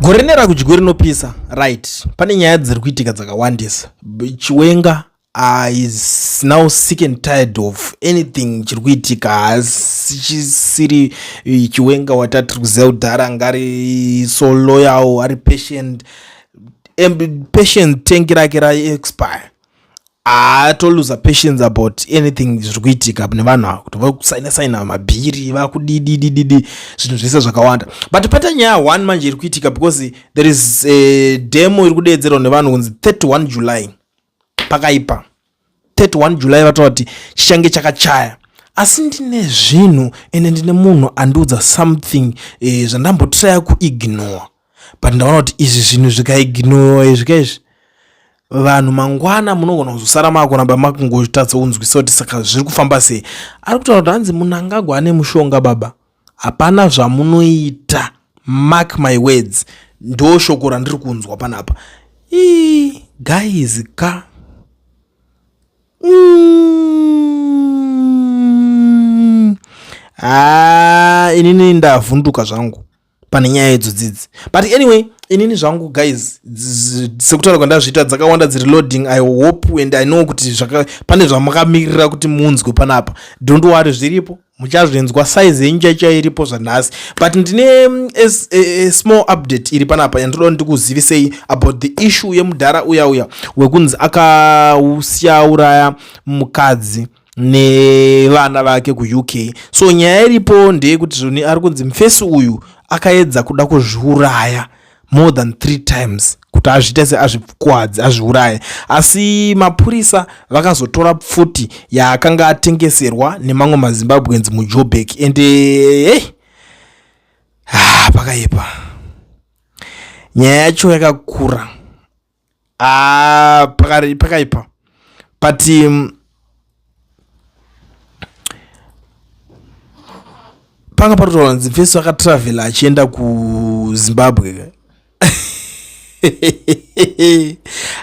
gore rine rakudyiwe rinopisa right pane nyaya dziri kuitika dzakawandisa chiwenga is now sick and tired of anything chiri kuitika haasi chisiri eh, chiwenga watatiri kuziva kudhara anga ari so loyal ari patient patient tank rake raexpire atoluza patience about anything zviri kuitika nevanhu ava kuti vakusaina saina mabhiri vakudididididi zvinhu zvese zvakawanda but pata nyaya one manje iri kuitika because there is a demo iri kudeedzerwa nevanhu kunzi 31 july pakaipa 31 july vataura kuti chichange chakachaya asi ndine zvinhu ende ndine munhu andiudza something eh, zvandambotiraya kuignore but ndaona kuti izvi zvinhu zvikaignowa izvi ka izvi vanhu mangwana munogona kuzosara maakuramba makungotadza kunzwisa kuti saka zviri kufamba sei ari kutaura kuti hanzi munangagwa ane mushonga baba hapana zvamunoita mark my words ndo shoko randiri kunzwa panapa ii guys ka mm. ah, inini ndavhunduka zvangu pane nyaya idzo dzidzi but anyway inini zvangu guys sekutaura kwandazviita dzakawanda dziri loading i hope and i know kuti pane zvamakamirira kuti munzwe panapa don't worry zviripo muchazvinzwa size yenyu chaicha iripo zvanhasi but ndine mm, a, a, a small update iri panapa yandoda ndikuzivisei about the issue yemudhara uya uya wekunzi akausiya uraya mukadzi mm, nevana vake kuuk so nyaya iripo ndeyekuti zvoni ari kunzi mfesi uyu akaedza kuda kuzviuraya more than three times kuti azviite seazvikuadzi azviuraye asi mapurisa vakazotora pfuti yaakanga atengeserwa nemamwe mazimbabweans mujobek and eh, hey, ah, pakaipa nyaya yacho yakakura ah, pakari pakaipa but um, panga patotaura nzi feso akatravela achienda kuzimbabwe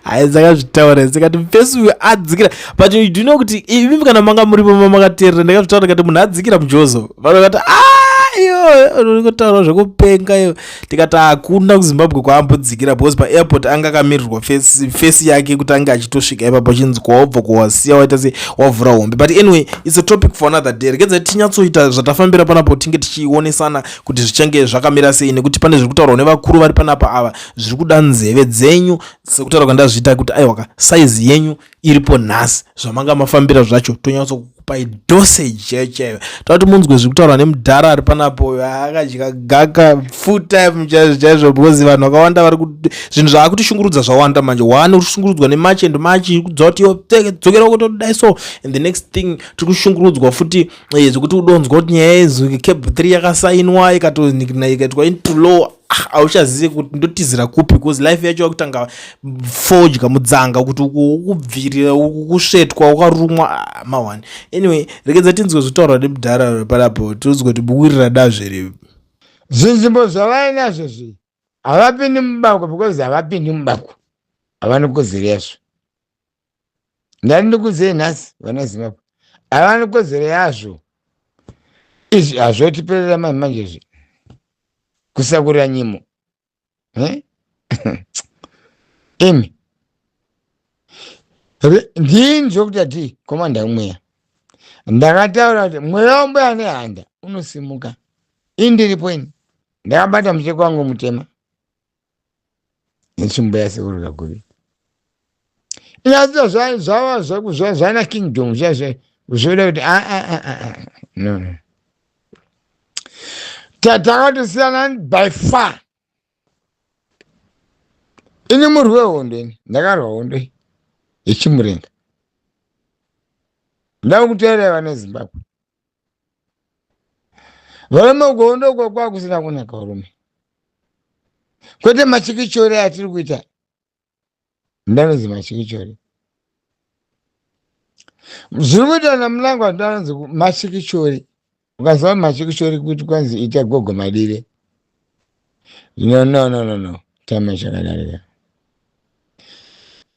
hai dzakazvitaura dzikati mfesi uyo adzikira but you do know kuti imimi kana manga muripo mamakateerera ndakazvitaura ndikati munhu adzikira mujozo vanhu vakati aiyo ah, urikutaura zvekupenga iyo tikati hakuna kuzimbabwe kwaambodzikira because paairport anga akamirirwa face yake kuti ange achitosvika ipapo achinzi kwaobva kwawasiya waita se wavhura hombe but anyway its a topic for another day regedza tinyatsoita zvatafambira panapo tinge tichionesana kuti zvichange zvakamira sei nekuti pane zviri kutaurwa nevakuru vari panapa ava zviri kuda nzeve dzenyu sekutaura kwandazviita kuti aiwaka saizi yenyu iripo nhasi zvamanga mafambira zvacho tonyatso kukupai dosage chaiyo chaiyo takuti munzwe zviri kutaurwa nemudhara ari panapo uyo akadya gaka full time chaizvo chaizvo because vanhu vakawanda vari kuti zvinhu zvaakutishungurudza zvawanda manje waane kushungurudzwa nemach and mach kudza kuti yodzokera kuti todai so and the next thing tiri kushungurudzwa futi eh, zvekuti udonzwa kuti nyaya yezuke cab three yakasainwa ikatonikna ikaitwa into lower hauchazive ah, kuti ndotizira kupi bcause life yacho yakutanga fodya mudzanga kuti ukubvirira ukusvetwa ukarumwa ah, mawani anyway rekedza tinzwe zvitaurwa nemudhara repalapo tinzwe kuti buwirira dazve rivi zvinzvimbo zvavainazvo zvi havapindi mubako because havapindi mubako havani kuziresvo ndati ndikudzei nhasi vana zimbabwe havana kodzero yazvo izvi hazvotiperera mani manje zvi kusakurira nyimo eh? imi ndini zvokuti atii komanda mweya ndakataura kuti mweya wambuya nehanda unosimuka indiripo ini ndakabata mucheko wangu mutema netsvimbo yasekuru kakuvi inazita zvava zvana kingdom zvoda kuti aa ah, ah, ah, no no tatakatosiyana by far ini murwi wehondo ini ndakarwa hondo iyi yechimurenga ndava kutaira vana zimbabwe Varume ugondo uko kwakusina kunaka varume. Kwete machikichori atiri kuita. Ndanonzi machikichori. Zviri kuita na Mnangwa ndanonzi machikichori. Ukaziva machikichori kuti kwanzi ita gogo madire. No no no no no. Time chakadarika.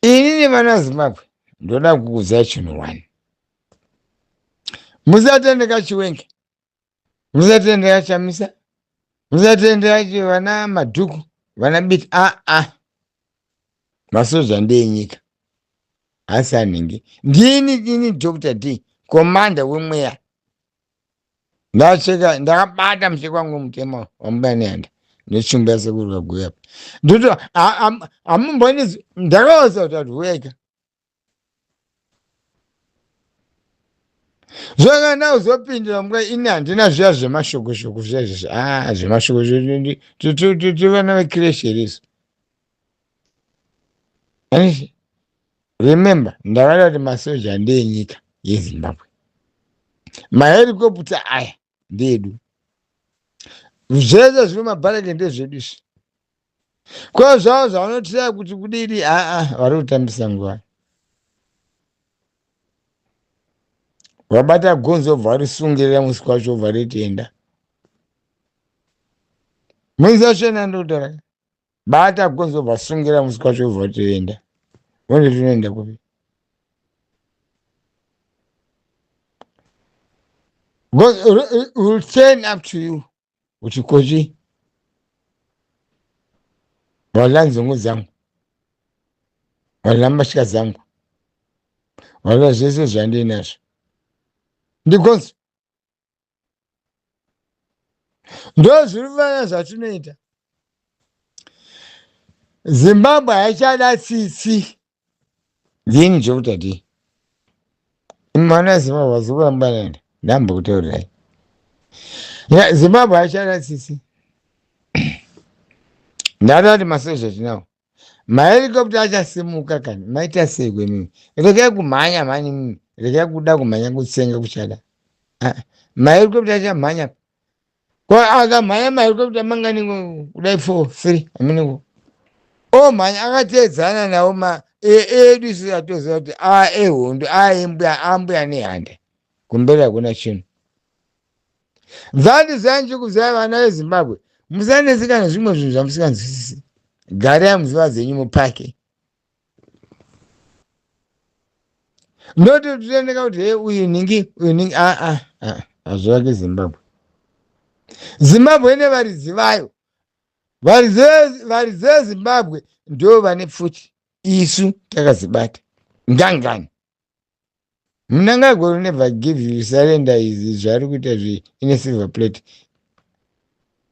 Ini nevana Zimbabwe ndoda kukuziva chinhu one. musatendeka chiwenge musatendeka chamisa musatendeka chi- vana madhuku vana biti aa masoja ndeenyika asi anhingi ndini ini dr d komanda wemweya ndacheka ndakabata mucheka wangu mutema wambuya nehanda netsvimbo yasekuru kaguya apa ndoti hamumboinizwi ndakaosa kuti atuweka zvakana uzopindira mura ini handina zviya zvemashokoshoko zviya zvese a zvemashokoshoko tivana vekireshi risu anisi remember ndakada kuti masoja ndeenyika yezimbabwe maherikopta aya ndeedu zvese zvino mabhareke ndezvedu izvi ko zvavo zvavanotiraya kuti kudini aa vari kutambisa nguva vabata gonzi vobva varisungirira musi kwacho vobva ritienda muizashena ndokutaura bata gonzo vasungira musi kwacho vobva toenda vonde tinoenda kupi Because it will- it will turn up to you kuti kochi wala nzungu dzangu wala mbatya dzangu wala zvese zvandiinazvo ndigonzo ndozviri vana zvatinoita zimbabwe haichada tsitsi dzinhu chekuti adii mwana zimbabwe vazikurambanana ndambo kutaurirai zimbabwe haichada tsitsi ndatati masoja tinawo mahelicopter achasimuka kani maita sei kwemimi regai kumhanya mhani mimi regai kuda kumhanya kutsenga kuchada ah, mahelicopter achamhanya ko akamhanya mahelicopter mangani kudai four three aminiko omhanya oh, akateedzana nawo ma e, edu isu atoziva kuti a ah, ehondo a ah, embwa ambuya nehanda kumberi hakuna chinhu That zai ndikuzai vana vezimbabwe musanetseka nezvimwe zvinhu zvamusinganzwisisi garai muziva dzenyu mupake ndototoendeka kuti he uyu ningi uyu ningi aa hazvivake zimbabwe zimbabwe ine varidzi vayo varidzi ve- varidzi vezimbabwe ndo vane pfuti isu takazibata ngangani mnangagwa will never give you surrender izi zvaari kuita zve ine silver plate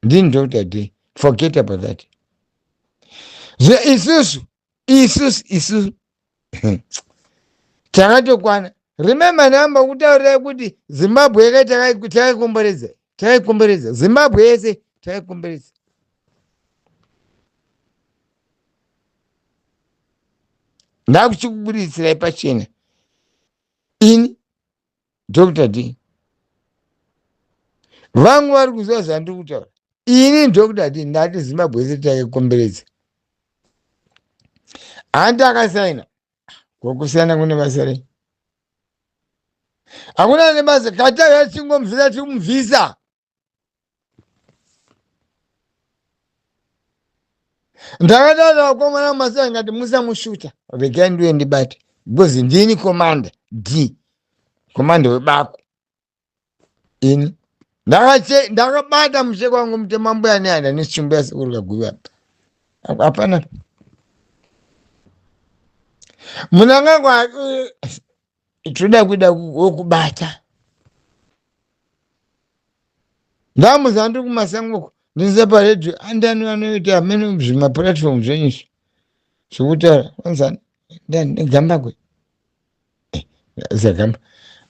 ndini dr day forget about that zve isusu isusu isusu takatokwana remember ndamba kutaurira kuti zimbabwe yeka takaikomboredza takaikomboredza zimbabwe yese takaikomboredza ndakuchikuburitsira ipachena ini dr d vangu vari kuziva zvandiri kutaura ini dr d ndati zimbabwe yese taikomberedza handi akasaina kokusiyana kune basa rei hakuna nebasa kataura tichingomubvisa tikumubvisa ndakataura vakomana masa ndikati musamushuta regai ndiuye ndibate because ndini komanda d komanda webako ini Ndakache- ndakabata mushe kwangu mutema mbuya neana nechimbo yasekuru kaguvi apa Apa- hapana munangagwa tinoda kuda wekubata ndamuzandu kumasango uko ndinze paredhiyo andani vanoita amene zvimapuratifomu zvenyu izvi zvekutaura onzani ndani negambakwe eh, zagamba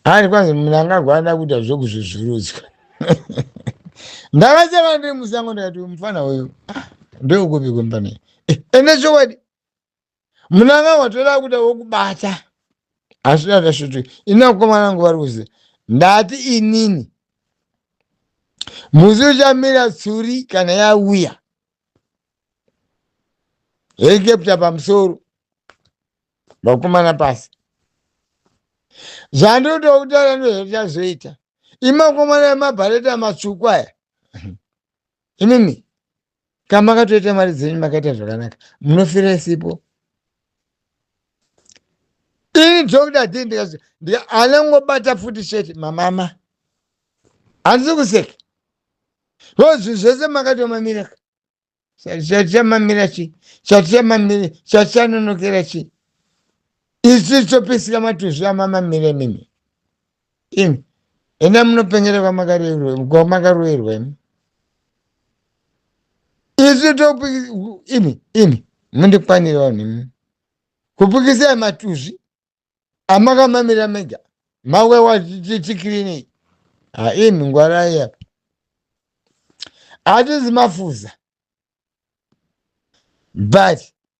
ari kwanzi munangagwa ada kuita zvekuzvuzvurudzwa ndakachava ndiri musango ndikati mufana uyu ah, ndeukupi kwembanei eh, ende chokwadi munanga watoda kuda wokubata asi ndandashuti ini vakomana vangu vari kuziva ndati inini musi uchamira tsuri kana yauya helikepta pamusoro vakomana pasi zvandinoda kutaura ndozvatazoita imakomana emabhareta matsvuku aya inini ka makatoita mari dzenyu makaita zvakanaka munofira isipo ini dhokuta dii ndikati anongobata futi sheti mamama handisi kuseka ko zvinhu zvese makatomamira ka chatichamamira chi chatichamamira chatichanonokera chi isu topisika matuzvi amamamira mimi imi enda munopengera kwamakaroerwa imi isu topi imi imi mundikwanira vanhu imi kupikisai matuzvi amakamamira mega mawewa tikirinei ha imi ngwarai apa hatizi mafuza but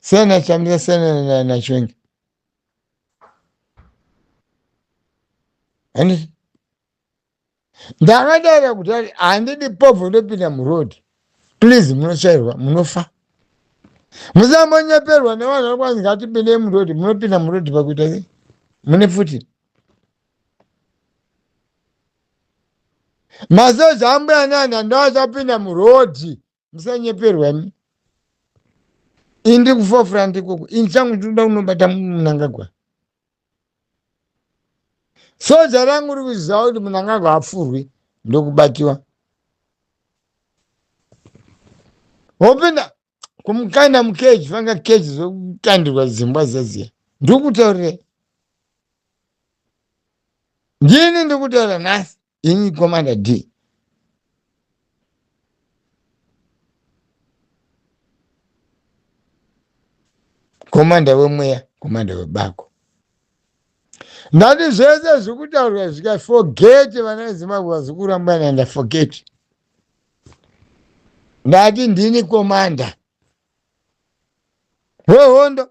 sena chamisa sena nachwengi handiti ndakadara kuti ari handidi povho ndopinda muroad please munotsvairwa munofa musambonyeperwa nevanhu vari kwanzi ngatipindei muroad munopinda muroad pakuita sei mune pfuti masoja ambuya nana ndoachapinda muroad musanyeperwa imi ini ndiri kufofura ndikoko ini changu ndinoda kunobata munangagwa soja rangu riri kuziva kuti munangagwa apfurwi ndokubatiwa hopinda kumukana mukeji vanga keji zvokutandirwa zimbwa zeziya ndiri kutaurirai ndini ndiri kutaura nhasi ini commander d komanda wemweya komanda webako ndati zvese zvikutaurwa zvika forget vana vezimbabwe vazikurambana nda forget ndati ndini komanda wehondo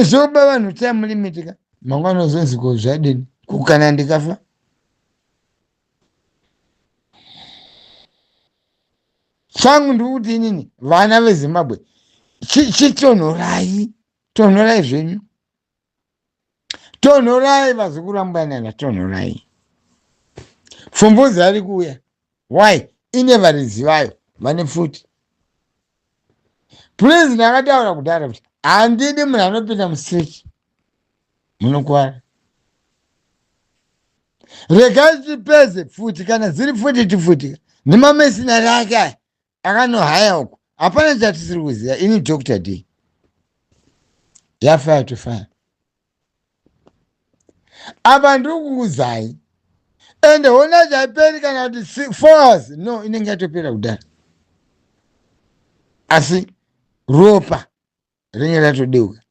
izoba vanhu time limit ka mangwana uzonzi ko zvadini kukana ndikafa changu ndiri kuti inini vana vezimbabwe chi- chitonhorai tonhorai zvenyu tonhorai vazukuru ambanana tonhorai fumbuzi ari kuuya why ine varidzi vayo vane pfuti please ndakataura kudhara kuti handidi munhu anopinda mustreet munokuvara regai tipedze pfuti kana dziri pfuti tipfutika nemamesinari ake aya akanohaya uko hapana chatisiri kuziva ini dr d yafaya tofaya apa ndiri kukudzai ende hona chaiperi kana kuti fours no inenge yatopera kudhara asi ropa rinenge ratodeuka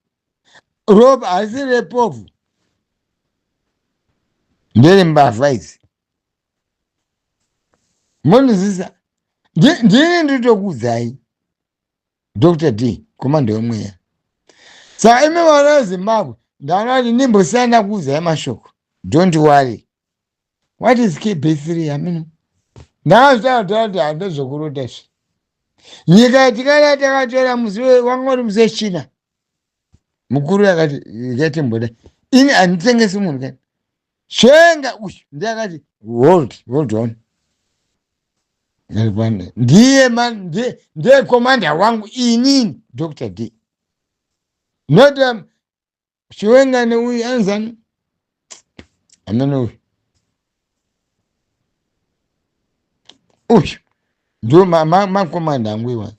ropa haisi repofu ndere mbavha idzi monzisa ndini nditokudzai dr d komanda wemweya saka imi vana vezimbabwe ndanoati ndimbosiyana kuudzai mashoko don't worry what is kb3 hameno ndazvitaataati hande zvokurota zve nyika yatikada takatora musi wanga uri musi wechina mukuru yakati yatimboda ini handitengesi munhu kani svenga uyu ndiye akati hold hold on ndiye ndiye komanda wangu inini dr d not um, Chiwenga neuyu anzani hamna neuyu uyu ndo makomanda angu iwa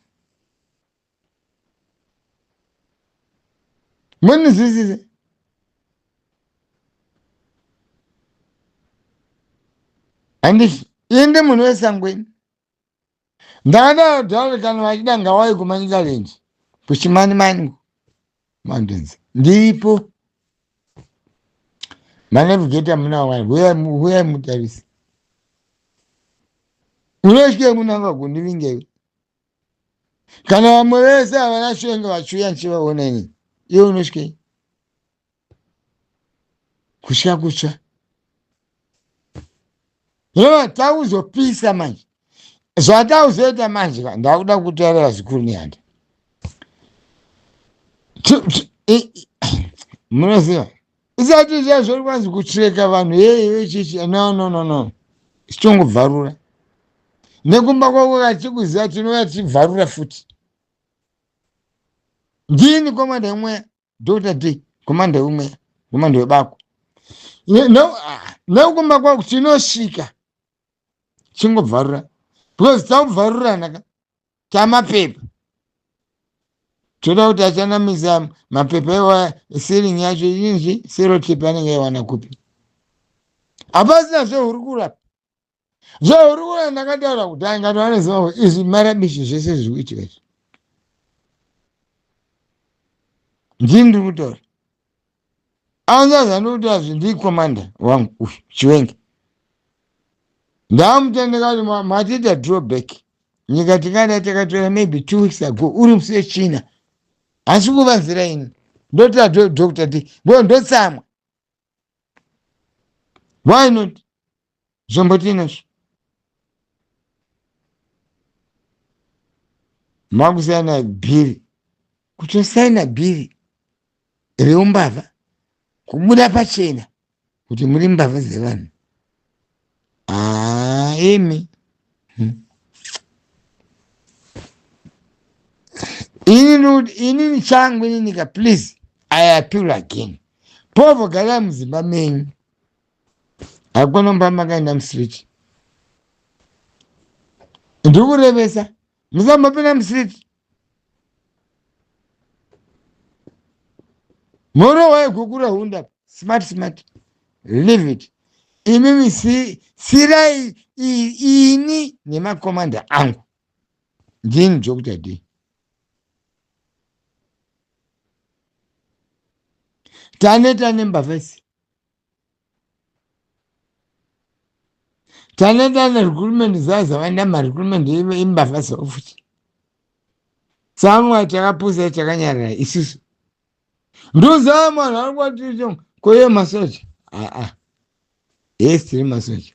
munizvisize handiti inde munhu wesangweni ndakadaro dare kana vachida ngawai kumanitaland kuchimani mani mountains ndiripo manevigeta muna wai huyai mutarisi unotyei munanga kundivingei kana vamwe vese havana shenge vachiuya ndichivaona ini iwe unotyei kutya kutsva hino takuzopisa manje zvatakuzoita manje ka ndakuda kutaurira zvikuru nehanda munoziva isati zviya zviri kwanzi kutreka vanhu yeye chichi no no no no sichongobvarura nekumba kwako kachikuziva tinouya tichibvarura futi ndini komanda imweya Dr. D kumanda wemweya kumanda webako neukumba kwako tinosvika chingobvarura because takubvarurana ka tamapepa toda kuti achanamisa mapepa iwaya siringi yacho inzvi serotip anenge aiwana kupi hapasina zvehurukuro apa so uri kuona ndakataura kuti angati vanoziva kuti izvi marabishi zvese zviri kuitika izvi ndini ndiri kutaura anzaza ndiri kutaura zvi ndiri komanda wangu uyu chiwenga ndaamutendeka kuti ma- matiita drawback nyika tingada takatora maybe two weeks ago uri musi wechina asi kuvanzira ini ndotira dho- doctor ti ngo ndotsamwa why not zvombo tiinazvo makusaina bhiri kutosaina bhiri reumbavha kubuda pachena kuti muri mbavha dzevanhu haa imi hmm. inini inini changu ininika please i appeal again povo garai mudzimba menyu hakuna mba makaenda musiriti ndikurevesa musambopinda musiriti mhoro waigukura hunda smart smart leave it imimi si, sirai ini nemakomanda angu ndini dr d taneta nembavha isi tane tane recruitment zaza vanama recruitment imbavha zofuti samwa takapusa takanyarara isusu ndozaa mwana ari kwaticho koye masoja aa yes tiri masoja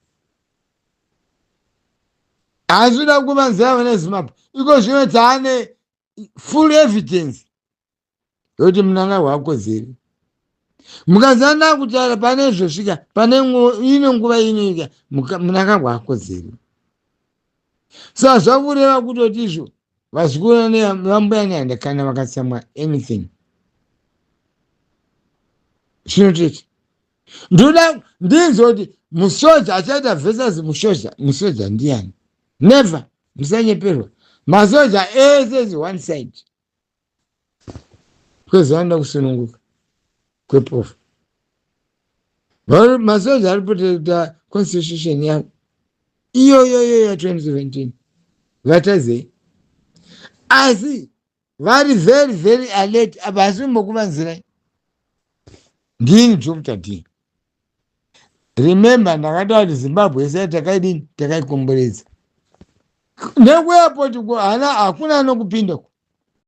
asi uda kuvanzira vane zimbabwe iko zvino taane full evidence yoti munangagwa akodzeri mukazana kutaura pane zvosvika pane ine nguva inoika munangagwa akodzeri so hazvakureva kutoti izvo vazukuru vambuya nyanda kana vakatsamwa anything chinototi ndoda ndinzwa kuti musoja achaita versus musoja musoja ndiani never musanyeperwa masoja ese is one side kwese anoda kusununguka kwepofu masoja ari protecta constitution yavo iyoyoyo ya 2017 vatazei asi vari very very alert apa hasi kumbokuvanzirai ndini dr d remember ndakataura kuti zimbabwe yese yatakaidini takaikomboredza nekuairport ko hana hakuna anokupinda ko